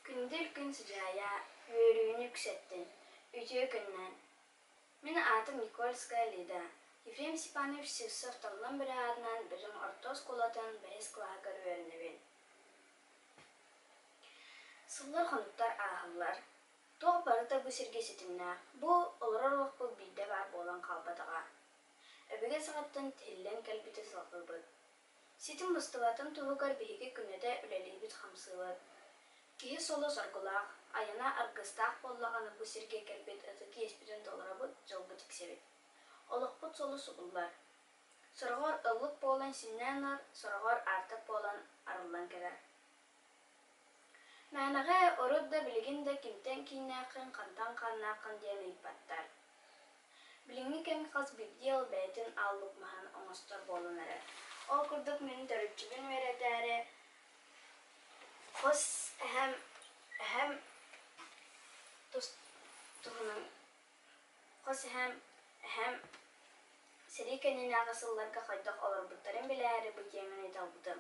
Күндүл күн сыдьаайа, үөрүүнү үксэттин, үтүө күннээн. Мин аатым Никольская Лида. Ефрем Степанович Сивцев Таҥлам бөрө аатынан Бөдөҥ орто оскуолатын бэһис кылааһыгар үөрэнэбин. Сыллар-хонуктар ааһаллар. Туох барыта бу сиргэ ситимнээх. Бу олорор олохпут биирдэ баар буолан хаалбатаҕа. Өбүгэ саҕаттан тиһиллэн кэлбити салҕыыбыт. Ситим быстыбатын туһугар биһиги күнэтэ үлэлиибит хамсыылар. Киһи соло-соргулаах, айана аргыстаах буоллаҕына бу сиргэ кэлбит ытык иэспитин толоробут дьолбут тиксэбит. Олохпут соло субуллар. Сороҕор ыллык буолан синньэ ынар, сороҕор аартык буолан арыллан кэлэр. Мээнэҕэ урут да билигин да кимтэн кииннээххин, хантан хааннааххын диэн ыйыппаттар. Билиҥҥи кэм хас биирдии ол бэйэтин ааллык маһын оҥостор буолан эрэр. Ол курдук мин төрүччүбүн үөрэтээри хос эһэм эһэм тус туһунан хос эһэм эһэм сэрии кэннинээҕи сылларга хайдах олорбуттарын билээри бу тиэмэни талбытым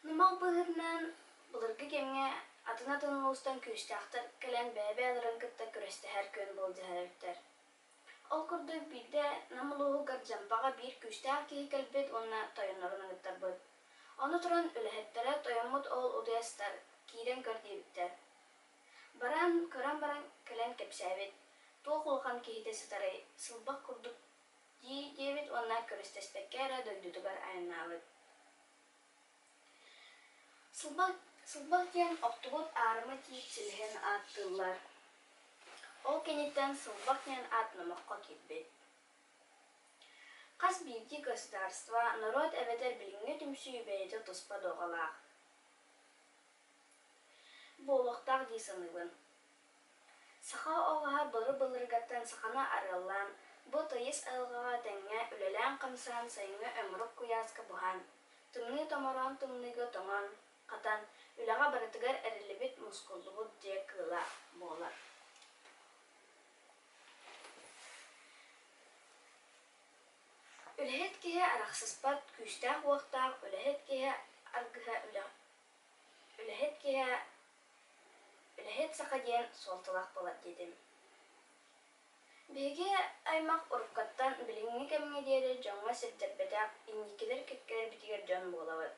Нумал быһыытынан, былыргы кэмҥэ атын-атын улуустан күүстээхтэр кэлэн бэйэ-бэйэ олорон кытта күрэстэһэр күөн былдьаһар эбиттэр. Ол курдук биирдэ Нам улууһугар Дьампаҕа биир күүстээх киһи кэлбит уонна тойоннорун аныттарбыт. Ону туран үлэһиттэрэ тойоммут уол утуйастар киирэн көр диэбиттэр. Баран, көрөн баран кэлэн кэпсээбит, туох улахан киһитэ сытарый, сылбах курдук дии диэбит уонна көрүстэспэккэ эрэ дойдутугар айаннаабыт. Сылбах, сылбах диэн охтубут аарыма тиит силиһин ааттыыллар. Ол кэнниттэн сылбах диэн аат номоххо киирбит. Хас биирдии государство, норуот эбэтэр билиҥҥи түмсүү бэйэтэ туспа дуогалаах. Буолуохтаах дии саныыбын. Саха олоҕо бары былыргыттан саханы арыаллаан, бу тойус айылҕаҕа тэҥҥэ үлэлээн-хамсаан сайыҥҥы омурук куйааска буһан, тымныы томороон тымныыга тоҥон, хатан, үлэҕэ барытыгар эриллибит, мускуллубут дьиэ кыыла буолар. Үлэһит киһи арахсыспат күүстээх-уохтаах, үлэһит киһи аргыһа үлэ үлэһит киһи Үлэһит саха диэн суолталаах буолар диэтим. Биһиги аймах уруккаттан билиҥҥи кэмҥэ диэри дьоҥҥо сирдэрбэтэх инникилэр кэккэлэрбитигэр дьон буолабыт.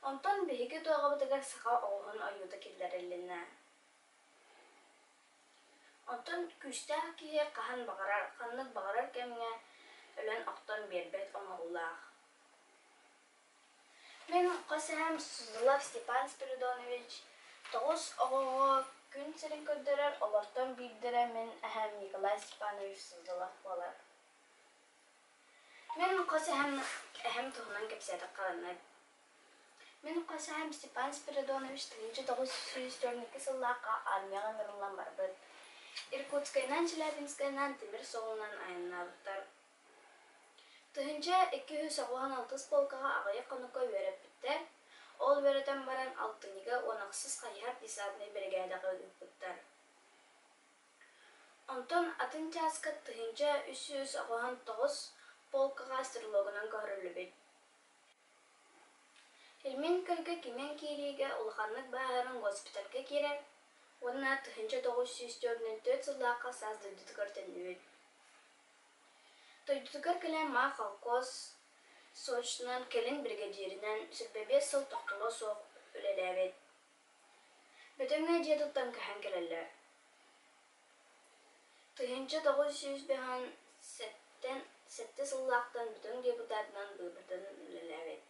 Онтон биһиги туоҕабытыгар саха оҕуһун ойуута киллэрилиннэ. Оттон күүстээх киһи хаһан баҕарар, ханнык баҕарар кэмҥэ өлөн-охтон биэрбэт оҥоһуулаах. Мин хос эһэм Сузлов Степан Спиридонович тоҕус оҕоҕо күн сирин көрдөрөр, олортон биирдэрэ мин эһэм Николай Степанович Сузлов буолар. Мин хос эһэм эһэм туһунан кэпсээтэх хараннар. Мин хос эһэм Степан Спиридонович тыһыынча тоҕус сүүс төрөнекки сыллаахха армияҕа ыҥырыллан барбыт. Иркутскайынан, Челябинскайынан, тимир суолунан айаннаабыттар. Тыһыынча икки сүүс оҕуһун алтыс полкаҕа аҕыйах хонукка үөрэппиттэр. Ол үөрэтэн баран алтынньыга Уонахсыс хайыһар десантнай биригээдэҕэ ыыппыттар. Онтон атын чааска тыһыынча үс сүүс оҕуһун тоҕус полкаҕа стрелогунан көһөрүллүбүт. Ильмин Кырга кимэн киириигэ улаханнык бааһыран госпитальга киирэр уонна тыһыынча тоҕус сүүс төрдүн төрүт сыллаахха саас дойдутугар төннүбүт Дойдутугар Кэлэмээх холкуос сочынан кэлин биригэдьиэринэн сирбэ биэс сыл тохтоло суох үлэлээбит. Бөдөҥө дьиэ туттан көһөн кэлэллэр. Тыһыынча тоҕус сүүс бөһөн сэттэн сэттэ сыллаахтан бүтүн депутатынан быыбытын үлэлээбит.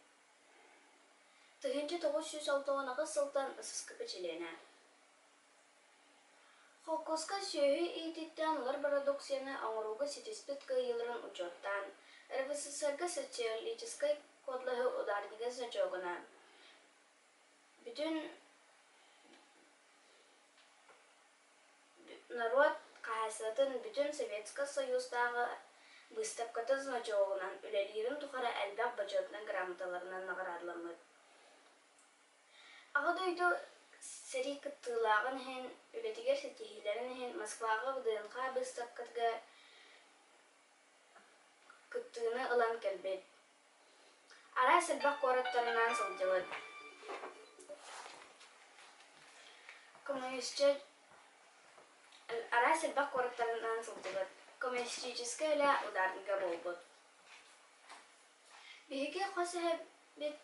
Тыһыынча тоҕус сүүс алтан аҕыс сылтан ысыскыпы чилиэнэ. Холкуоска сүөһү иитииттэн ылар бородууксуйаны оҥорууга ситиспит кыайыыларын учуоттаан, РВССР-га социологическай кодлаһы ударнига сочуогунаан, бүтүн норуот хаһаайыстыбатын бүтүн Советскай Союзтааҕы быыстапката значогунан үлэлиирин тухары элбэх бочуотунай грамоталарынан наҕараадаламмыт Аҕа дойду сэрии кыттыылааҕын иһин, үлэтигэр ситиһиилэрин иһин Москваҕа ВДНХ быыстапкатыгар кыттыыны ылан кэлбит. Араас элбэх куораттарынан сылдьыбыт. Коммунистическай араас элбэх куораттарынан сылдьыбыт. Коммунистическай үлэ ударнига буолбут. Биһиги хос эһэбит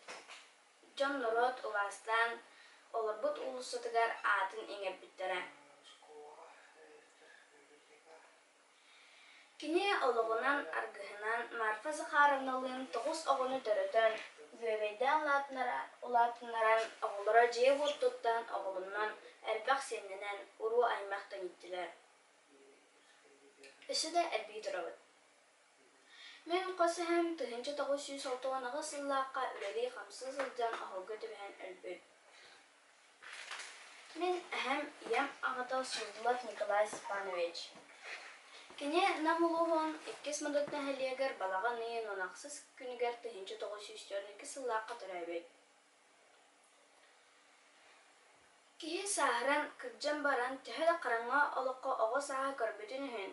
Дьон норуот убаастаан олорбут уулуссатыгар аатын иҥэрбиттэрэ. Кини олоҕунан, аргыһынан Марфа Захаровналыын тоҕус оҕону төрөтөн, үөгэйдээн улаатыннаран, оҕолоро дьиэ-уот туттан, оҕолонон, элбэх сиэннэнэн, уруу-аймах төнүттүлэр. Өссө да элбии турабыт. Мин хос эһэм тыһыынча тоҕус сүүс отуон аҕыс сыллаахха үлэлии-хамсыы сылдьан оһолго түбэһэн өлбүт. Мин эһэм ийэм аҕата Сууллов Николай Степанович. Кини Нам улууһун иккис Модут нэһилиэгэр балаҕан ыйын он ахсыс күнүгэр тыһыынча тоҕус сүүс төрт икки сыллаахха төрөөбүт. Киһи сааһыран, кырдьан баран, төһө да хараҥа олоххо оҕо сааһы көрбүтүн иһин,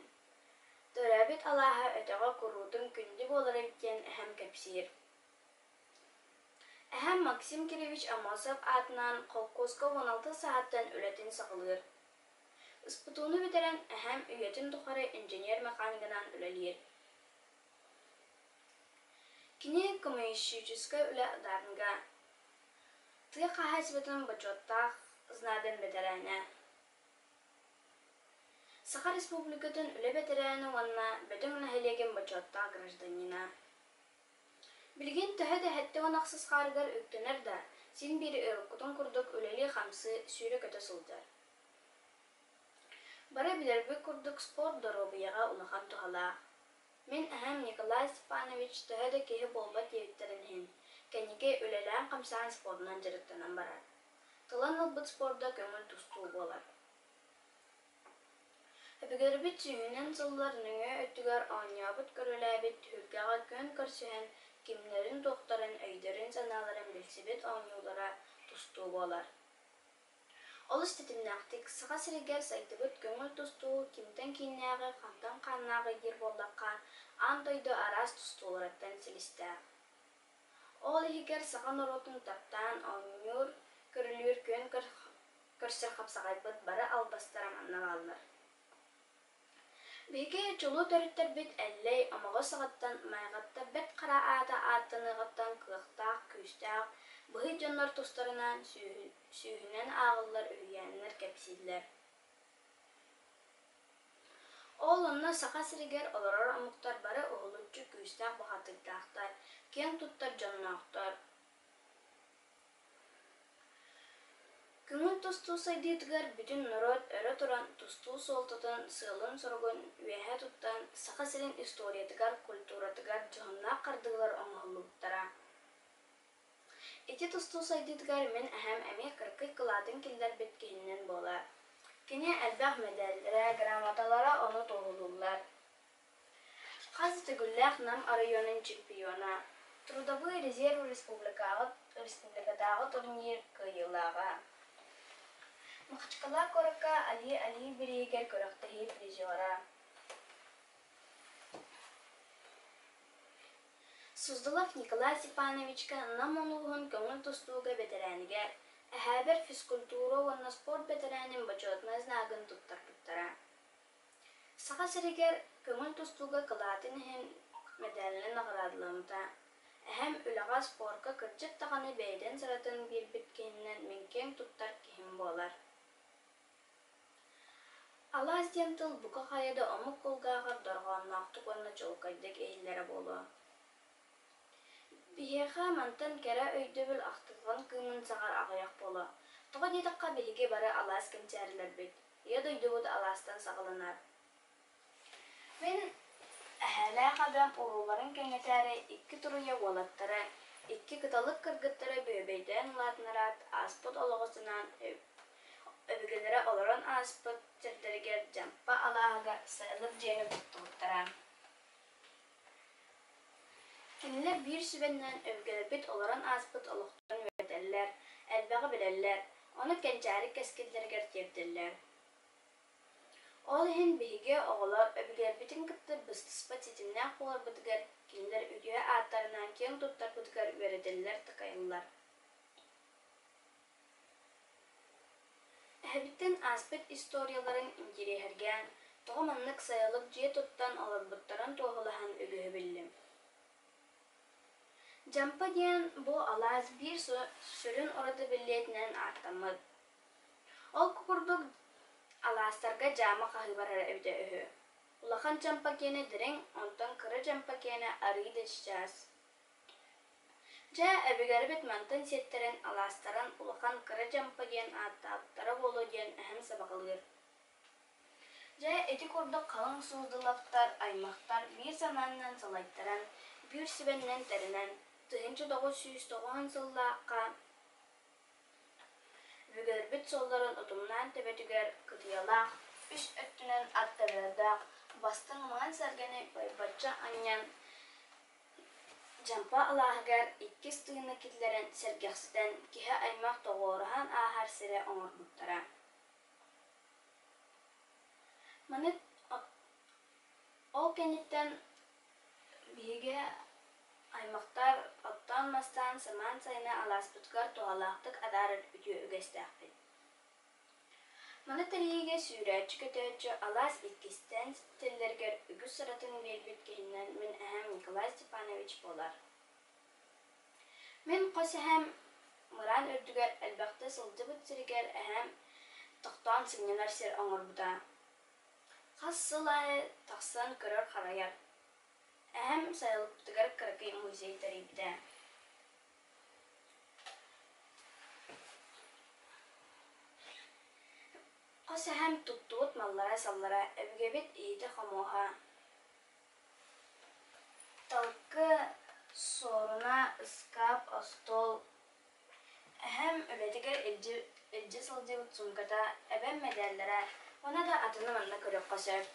төрөөбүт алааһа өтөҕө куруутун күндү буоларын диэн эһэм кэпсиир. Эһэм Максим Кириллович Амосов аатынан холкуоска уон алта сааттан үлэтин саҕалыыр. Ыспутууну бүтэрэн эһэм үйэтин тухары инженер-механиганан үлэлиир. Кини коммунистическай үлэ дарга тыа хаһаайыстыбатын бочуоттаах знамян бэтэрээнэ, Саха Республикатын үлэ бэтэрээнэ уонна Бөтөҥ нэһилиэгин бочуоттаах гражданина. Билигин төһө да сэттэ уон ахсыс хаарыгар үктэнэр да, син биир ыалыккутун курдук үлэлии-хамсыы сүүрэ-көтө сылдьар. Бары билэрбит курдук спорт доруобуйаҕа улахан туһалаах. Мин эһэм Николай Степанович төһө да киһи буолбат диэбиттэрин иһин, кэнники үлэлээн-хамсаан спорунан дьарыктанан барар. Талан ылбыт спорда көҥүл тустуу буолар. Өбүгэрбит сүүһүнэн сыллар нөҥүө өттүгэр оонньообут көрүлээбит түһүлгэҕэ күөн көрсүһэн, кимнэрин-туохтарын өйдөрүн-санааларын билсибит оонньуулара тустуу буолар. Олус тэтимнээхтик, Саха сиригэр сайдыбыт көҥүл тустуу кимтэн кииннээҕи, хантан хааннааҕы диир буоллахха, аан дойду араас тустууларыттан силистээх. Ол иһигэр саха норуотун таптаан оонньуур, көрүлүүр күөн көрсөр хапсаҕайбыт бары албастара манна бааллар. Биһиги чулуу төрүттэрбит Эллэй омоҕо саҕаттан майгаттарбэт хара аата ааттаныаҕыттан кыахтаах, күүстээх быһый дьоннор тустарынан сүүһүнэн ааҕыллар үһүйээннэр кэпсииллэр. Ол онно Саха сиригэр олорор омуктар бары уһулуччу күүстээх бухатыырдаахтар, киэн туттар дьонноохтор. Көҥүл тустуу сайдыытыгар бүтүн норуот өрө туран тустуу суолтатын, сыалын-соругун үөһэ туттан, Саха сирин историятыгар, культуратыгар дьоһуннаах хардыылар оҥоһуллубуттара. Ити тустуу сайдыытыгар мин эһэм эмиэ кыракый кылаатын киллэрбит киһинэн буолар. Кини элбэх мэдээллэрэ, грамоталара ону туоһулууллар. Хас төгүллээх Нам оройуонун чемпиона, Трудовой резерв республикатааҕы турнир кыайыылааҕа. Махачкала куоракка Али Али бирииһигэр күрэхтэһии призера. Суздалов Николай Степановичка Нам улууһун көҥүл тустууга бэтэрээнигэр, эһээбэр физкультура уонна спорт бэтэрээнин бочуотунай знагын туттарбыттара. Саха сиригэр көҥүл тустууга кылаатын иһин мэдээлинэй наҕараадаламмыта. Эһэм үлэҕэ, спорка кырдьык даҕаны бэйэтин сыратын биэрбит киһинэн мин киэҥ туттар киһим буолар. Алаас диэн тыл бука хайа да омук кулгааҕар дорҕоонноохтук уонна чуолкайдык иһиллэрэ буолуо. Биһиэхэ мантан кэрэ өйдөбүл ахтылҕан кыымын саҕар аҕыйах буолуо. Тоҕо диэтэххэ, биһиги бары алаас кэнчээрилэрбит. Ийэ дойдубут алаастан саҕаланар. Мин эһээлээх эбээм урууларын кэҥэтээри икки туруйа уолаттара, икки кыталык кыргыттара бүөбэйдээн улаатыннараат ааспыт олоҕутунан өбүгэлэрэ олорон ааспыт сирдэригэр Дьампа алааһыгар сайылык дьиэни туттубуттара Кинилэр биир сүбэнэн өбүгэлэрбит олорон ааспыт олохторун үөрэтэллэр, элбэҕи билэллэр, ону кэнчээри кэскиллэригэр тиэрдэллэр. Ол иһин биһиги оҕолор өбүгэлэрбитин кытта быстыспат ситимнээх буоларбытыгар, кинилэр үтүө ааттарынан киэҥ туттарбытыгар үөрэтэллэр-такайаллар. Эһэбиттэн ааспыт историяларын интириэһиргээн, тоҕо маннык сайылык дьиэ туттан олорбуттарын туоһулаһан үгүһү биллим. Джампа диэн бу алаас биир сүрүн ураты биллиэтинэн ааттаммыт. Ол курдук алаастарга дьаама хаһыыбар эрэ эбитэ үһү. Улахан Джампа киэнэ дириҥ, онтон кыра Джампа киэнэ арыы да чычаас. Дьэ, эбигэр эбит мантан сиэттэрэн, алаастаран улахан кыра дьампа диэн ааттаабыттара буолуо диэн эһэм сабаҕалыыр. Дьэ, ити курдук халыҥ сууздулаптар, аймахтар биир санааннан салайтаран, биир сүбэннэн тэринэн, тыһыынча тоҕус сүүс тоҕуон сыллаахха бүгэрбит соллорун утумнаан төбөтүгэр кытыйалаах, үс өттүнэн аттарыардаах бастыҥ маҥан сэргэни байбачча анньан, Дьампа алааһыгар иккис тыыны киллэрэн сэргэхситэн киһи аймах тоҕуоруһан ааһар сирэ оҥорбуттара Маны ол кэнниттэн биһиги аймахтар оттоон-мастаан самаан сайыны алааспытыгар туһалаахтык адаарар үтүө үгэстээхпит Маны тэрийиигэ сүүрээччи-көтөөччү алаас иккистээн ситиллэригэр үгүс сыратын биэрбит киһинэн мин эһээм Николай Степанович буолар. Мин хос эһээм мыраан үрдүгэр элбэхтэ сылдьыбыт сиригэр эһээм тохтоон сынньанар сир оҥорбута. Хас сыл аайы тахсан көрөр-харайар. Эһэм сайылыктыгар кыракый музей тэрийбитэ. Хос эһэм туттубут маллара-саллара өбүгэбит иһитэ-хомуоһа талыкы, суоруна, ыскаап, остуол. Эһэм үлэтигэр илдьэ сылдьыбыт суумката, эбэм мэдээллэрэ уонна да атыны манна көрүөххэ сөп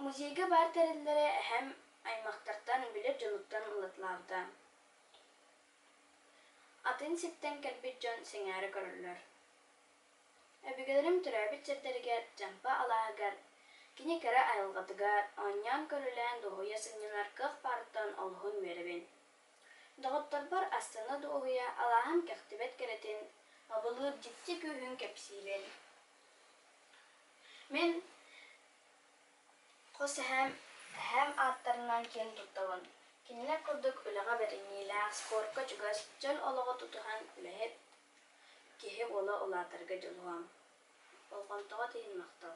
Музейга баар тэриллэрэ эһэм аймахтартан, билэр дьонуттан ылытылаабыта. Атын сиртэн кэлбит дьон сэҥээрэ көрөллөр. Өбүгэлэрим төрөөбүт сирдэригэр, Дьампа алааһыгар, кини кэрэ айылҕатыгар оонньоон-көрүлээн дуоһуйа сынньанар кыах баарыттан олуһун үөрэбин. Доҕотторбор астына-дуоһуйа алааһым кэхтибэт кэрэтин, абылыыр дьикти күүһүн кэпсиибин. Мин хос эһээм эһээм ааттарынан киэн туттабын. Кинилэр курдук үлэҕэ бэриниилээх, спорка чугас, дьон олоҕо тутуһан үлэһит киһи буола улаатарга дьулуһуом. Болҕомтоҕо тиһин махтал.